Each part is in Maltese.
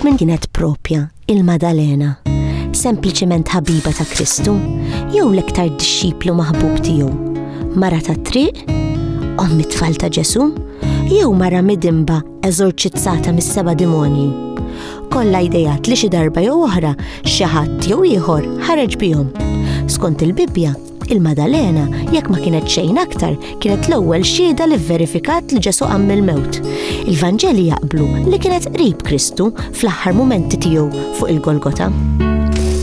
Min kienet propja il-Madalena? Sempliċement ħabiba ta' Kristu? Jew l-iktar dixxiplu maħbub tiegħu? Mara ta' triq? Ommi tfal ta' Ġesu? Jew mara midimba eżorċizzata mis-seba' demonji? Kollha idejat li xi darba jew oħra xi ħadd jew ieħor ħareġ bihom. Skont il-Bibbja, Il-Madalena, jekk ma kienet xejn aktar, kienet l-ewwel xhieda li vverifikat li Ġesu qam mill-mewt. Il-Vanġeli jaqblu li kienet qrib Kristu fl-aħħar mumenti tiegħu fuq il-Golgota.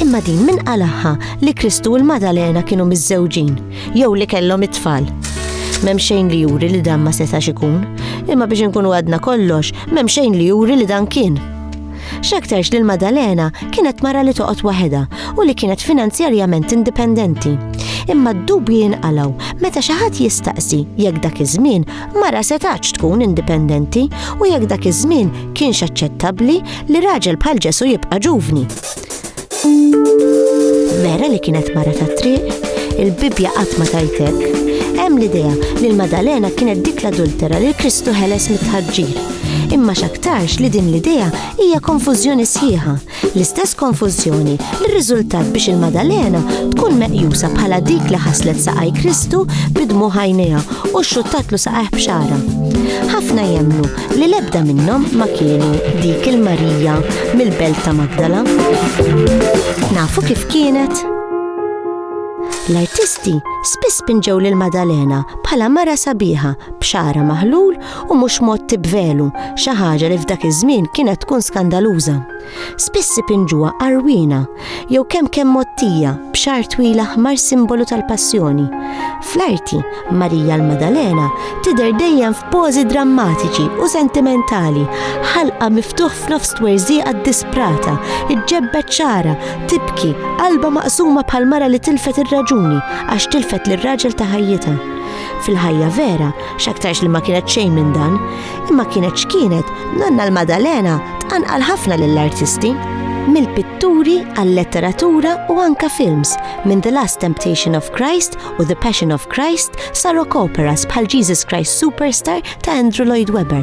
Imma din min qalagħha li Kristu u l-Madalena kienu miżżewġin jew li kellhom it-tfal. M'hemm xejn li juri li dan ma setax ikun, imma biex inkunu għadna kollox, m'hemm xejn li juri li dan kien. X'aktarx li l-Maddalena kienet mara li toqgħod waħedha u li kienet finanzjarjament indipendenti. Imma d-dubji jinqalgħu meta xi ħadd jistaqsi jekk dak iż-żmien mara setgħatx tkun indipendenti u jekk dak iż-żmien kienx aċċettabbli li raġel bħal Ġesù jibqa' ġuvni. Vera li kienet mara ta' triq, il-Bibja qatt ma tajtek. Hemm l-idea li l-Madalena kienet dik l-adultera li Kristu ħeles mit-tħaġġir. Imma x'aktarx li din l-idea hija konfużjoni sħiħa, l-istess konfużjoni li rriżultat biex il-Madalena tkun meqjusa bħala dik li ħaslet saqaj Kristu bidmu ħajnejha u xxuttatlu saqajh b'xara. Ħafna jemmnu li l-ebda minnhom ma kienu dik il-Marija mill-belt ta' Magdala. Nafu kif kienet? L-artisti spiss pinġew lil Madalena bħala mara sabiħa b'xara maħlul u mhux mod tibvelu xi ħaġa li f'dak iż-żmien kienet tkun skandaluża. spiss ipinġuha għarwiena jew kemm kemm mgħottija b'xagħar twil aħmar simbolu tal-Passjoni. Fl-arti, Marija l-Maddalena tidher dejjem f'pożi drammatiċi u sentimentali, ħalqha miftuħ f'nofs twerżieqa ddisprata, iġġebbed xagħarha, tibki, qalbha maqsuma bħal mara li tilfet ir-raġuni għax tilfet lir-raġel ta' ħajjitha. Fil-ħajja vera, x'aktarx li ma kienet xejn minn dan, imma kienet x'kienet nanna l-Madalena tqanqal ħafna lill-artisti. Mill-pitturi għal-letteratura u anka films minn The Last Temptation of Christ u The Passion of Christ sa rock operas bħal Jesus Christ Superstar ta' Andrew Lloyd Webber.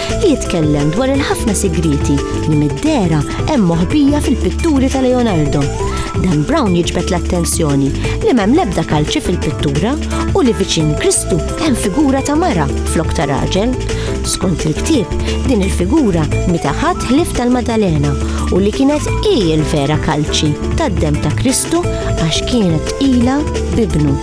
li jitkellem dwar il-ħafna sigrieti li mid-dehra hemm moħbija fil-pitturi ta' Leonardo. Dan Brown jiġbed l-attenzjoni li m'hemm l-ebda kalċi fil-pittura u li viċin Kristu hemm figura ta' mara flok ta' raġel. Skont il-ktieb, din il-figura mita ħadd ħlief tal-Madalena u li kienet hi l-vera kalċi tad-demm ta' Kristu għax kienet tqila b'ibnu.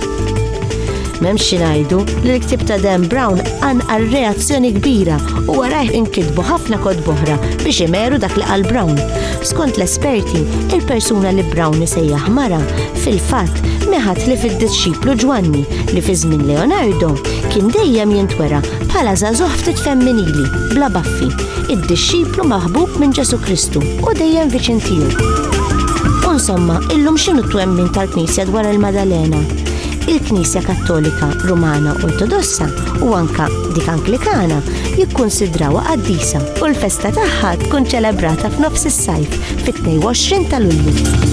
M'hemmx xi ngħidu li l-ktieb ta' Dan Brown anqal reazzjoni kbira u warajh inkitbu ħafna kod boħra biex imeru dak li qal Brown. Skont l-esperti, il-persuna li Brown isejjaħ mara, fil-fatt, meħat li fid-dixxiplu Ġwanni li fi żmien Leonardo kien dejjem jintwera bħala żagħżugħ ftit femminili, bla baffi, id-dixxiplu maħbub minn Ġesu Kristu u dejjem viċin tiegħu. Insomma, illum x'inhu t-twemmin tal-Knisja dwar il-Madalena? il-Knisja Kattolika Rumana Ortodossa u anka dik Anglikana jikkunsidrawha qaddisa u l-festa tagħha tkun ċelebrata f'nofs is-sajf fit-22 ta' Lulju.